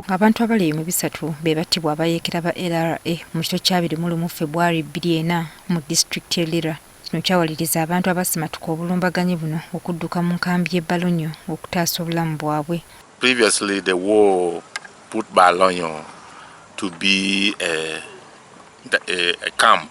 Abantu abali mu bisatu be battibwa abayeekera ba LRA mu kiro ky'abiri mu lumu Febwari bbiri ena mu disitulikiti e Lira. Kino kyawaliriza abantu abasimatuka obulumbaganyi buno okudduka mu nkambi y'e Balonyo okutaasa obulamu bwabwe. Previously the war put Balonyo to be a, a, a camp.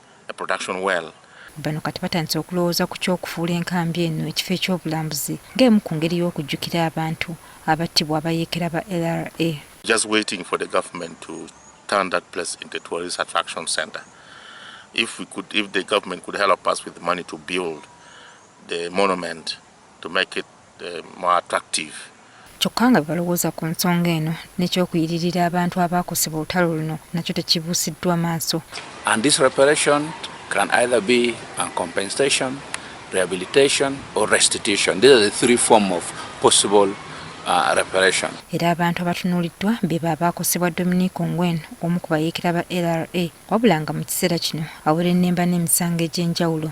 a production well. Bano kati batandise okulowooza ku ky'okufuula enkambi eno ekifo eky'obulambuzi ng'emu ku ngeri y'okujjukira abantu abattibwa abayeekera ba LRA. Just waiting for the government to turn that place into a tourist attraction center. If we could, if the government could help us with money to build the monument to make it kyokka nga bebalowooza ku nsonga eno nekyokuyiririra abantu abaakosebwa olutalo luno nakyo tekibuusiddwa maaso. And this reparation can either be a compensation, rehabilitation or restitution. These are the three form of possible uh, reparation. Era abantu abatunuuliddwa be ba baakosebwa Dominic Ongwen omu ku bayeekera ba LRA wabula nga mu kiseera kino awerennemba n'emisango egy'enjawulo.